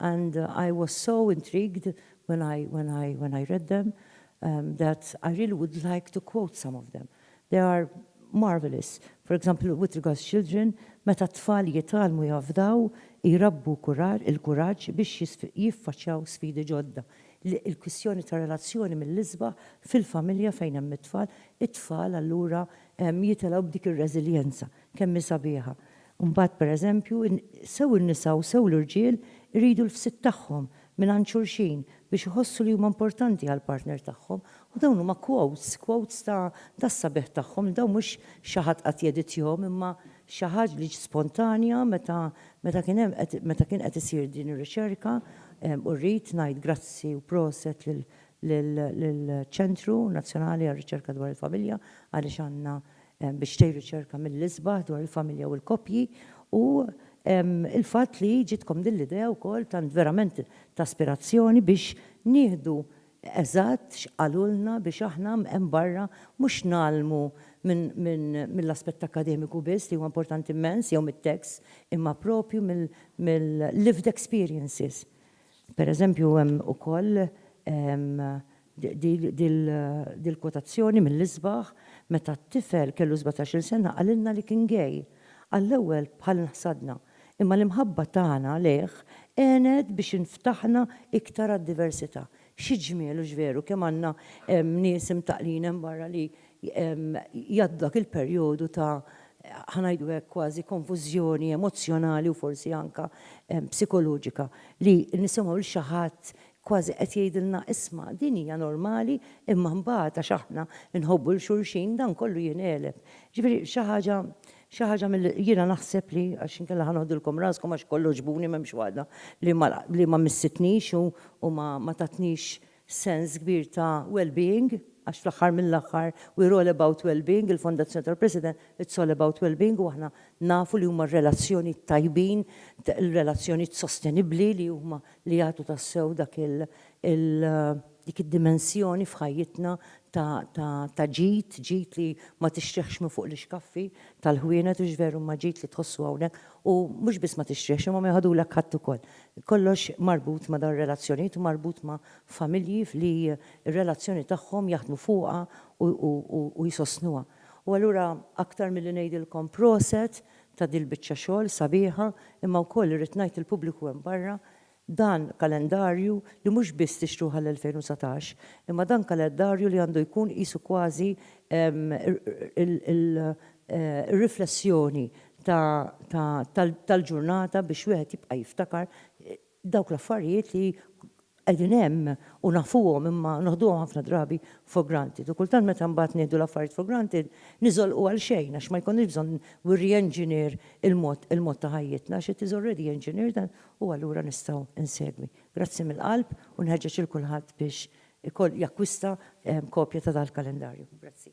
and I was so intrigued when I when I when I read them um that I really would like to quote some of them. They are marvellous. For example, with regards children, meta t-tfal jitgħallmu jafdaw, jrabbu kurar il-kuraġġ biex jiffaċċjaw sfidi ġodda. Il-kwistjoni ta' relazzjoni mill-isbaħ fil-familja fejn hemm it-tfal, it-tfal allura jitilgħu b'dik ir-reżiljenza. Kemm hi sabiħa. Imbagħad, per eżempju, sew in-nisa u sew l-irġiel iridu l-fsid tagħhom mingħand xulxin biex iħossu li huma importanti għall-partner tagħhom. U dawn huma quotes, quotes ta' tas-sabiħ tagħhom li dawn mhux xi ħadd qatt jeditjahom imma xi ħaġ li ġiet spontanja meta meta kien hemm qed meta kien qed isir din ir-riċerka u rrid ngħid grazzi u proset lil lill-Ċentru Nazzjonali għar-Riċerka dwar il-Familja għaliex għandna biex tgħin riċerka mill-isbaħ dwar il-familja u l-koppji u l-fatt li ġietkom din l-idea wkoll tant verament ta' aspirazzjoni biex nieħdu eżatt x'qalulna biex aħna hemm barra mhux ngħallmu mill-aspett akkademiku biss li huwa importanti mmens jew mit-tekst imma proprju mill-lived experiences. Pereżempju hemm ukoll Dil-kwotazzjoni mill-isbaħ, meta t-tifel kellu sbatax-il sena qalilna li kien gay. Għall-ewwel bħal inħsadna, imma l-imħabba tagħna lejh għenet biex inftaħna iktar għad-diversità. Xi ġmiel hux veru kemm għandna nies imtaqqlin hemm barra li jgħaddu dak il-perjodu ta' ħa ngħidu hekk kważi konfużjoni emozzjonali u forsi anke psikoloġika li nisimgħu 'l xi ħadd Kważi qed jgħidilna isma' din hija normali imma mbagħad għax aħna nħobbu 'l xulxin dan kollu jingħeleb. Ġifieri xi ħaġa xi ħaġa mill jiena naħseb li għax inkella ħa noħdilkom raskom għax kollha għoġbuni m'hemmx waħda li ma li ma missitnix u u ma ma tatnix sens kbir ta' well being għax fl-aħħar mill-aħħar we're all about well being il-Fondazzjoni tal-President it's all about well being u aħna nafu li huma r-relazzjonijiet tajbin il-relazzjonijiet sostenibbli li huma li jagħtu tassew dak il, il, dik id-dimensjoni f'ħajjitna ta, ta, ta' ġid, ġid li ma tixtrihx minn fuq l-ixkaffi tal-ħwienet, hux veru, imma ġid li tħossu hawnhekk, u mhux biss ma tixtrihx imma ma jħadulek ħadd ukoll. Kollox marbut ma' dawn ir-relazzjonijiet u marbut ma' familji li r-relazzjoni tagħhom jaħdmu fuqha u, u, u jsostnuha. U allura aktar milli ngħidilkom proset ta' dil-biċċa xogħol sabiħa imma wkoll irrid ngħid lill-pubbliku hemm barra dan kalendarju li mhux biss tixtruh għall-2019 imma dan kalendarju li għandu jkun qisu kważi r-riflessjoni tal-ġurnata biex wieħed jibqa' jiftakar Dawk l-affarijiet li qegħdin hemm u nafuhom imma noħduhom ħafna drabi for granted. U kultant meta mbagħad nieħdu l-affarijiet for granted niżolqu għal xejn għax ma jkollniex bżonn we re-engineer il-mod il-mod ta' ħajjitna għax it is already engineered and u allura nistgħu insegwi. Grazzi mill-qalb u nħeġġeġ lil kulħadd biex ikoll jakkwista kopja ta' dal-kalendarju. Grazzi.